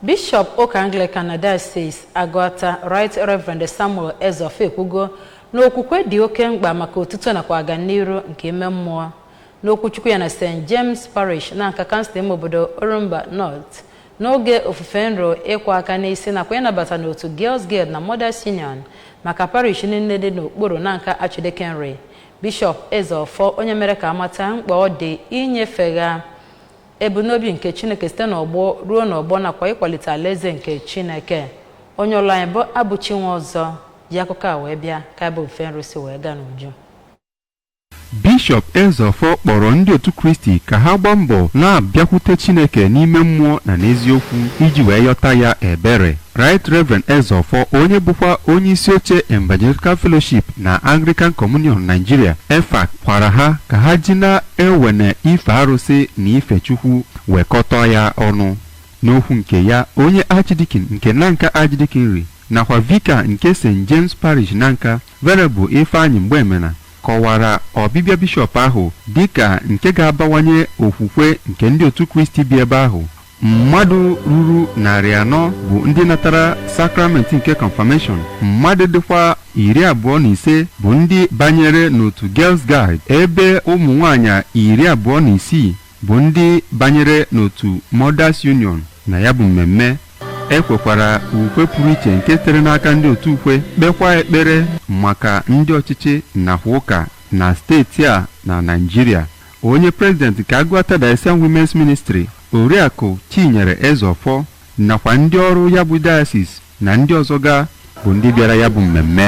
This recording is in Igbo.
Bishọp ụka Anglican na Diocese Agụata Right Reverend Samuel Ezeofor ekwugo na okwukwe dị oke mkpa maka otuto nakwa aganiru nke ime mmụọ. N'okwuchukwu ya na St. James Parish Nanka kansụl ime obodo Orumba North n'oge ofufe nro ịkwa aka n'isi nakwa ịnabata n'otu Girls Guild na Mothers Union maka parish niile dị n'okpuru Nanka Archdeaconry, Bishọp Ezeofor onye mere ka a mata mkpa ọ dị inyefegha ebumnobi nke chineke site n'ọgbọ ruo n'ọgbọ nakwa ịkwalite alaeze nke chineke onye ụlọ anyị bụ abụchi nwọzọ ji akụkọ a wee bịa ka ya bụ ofufe nro si wee gaa n'uju bishọp ezeọfọ kpọrọ ndị otu kristi ka ha gbaa mbọ na-abịakwute chineke n'ime mmụọ na n'eziokwu iji wee yọta ya ebere Right Reverend Ezeofor onye bụkwa onye isi oche Evangelical Fellowship na Anglican Communion Nigeria EFAC gwara ha ka ha ji na-ewene ife arụsị na ife Chukwu wekọta ya ọnụ. N'okwu nke ya, onye Archdeacon nke Nanka Archdeaconry nakwa Vicar nke St. James Parish Nanka, Venerable Ifeanyi Mgbemena kọwara ọbịbịa bishọp ahụ dịka nke ga-abawanye okwukwe nke ndị otu Kristi bi ebe ahụ mmadụ ruru narị anọ bụ ndị natara sakramenti nke confirmation mmadụ dịkwa iri abụọ na ise bụ ndị banyere n'otu girls guild ebe ụmụ nwanyị iri abụọ na isii bụ ndị banyere n'otu mothers union na ya bụ mmemme e kwekwara ukwe pụrụ iche nke sitere n'aka ndị otu ukwe kpekwa ekpere maka ndị ọchịchị nakwa ụka na steeti a na naijiria onye prezident nke Aguata Diocesan Women's Ministry Oriakụ Chinyere Ezeọfọ nakwa ndị ọrụ ya bụ dayasis na ndị ọzọ ga bụ ndị bịara ya bụ mmemme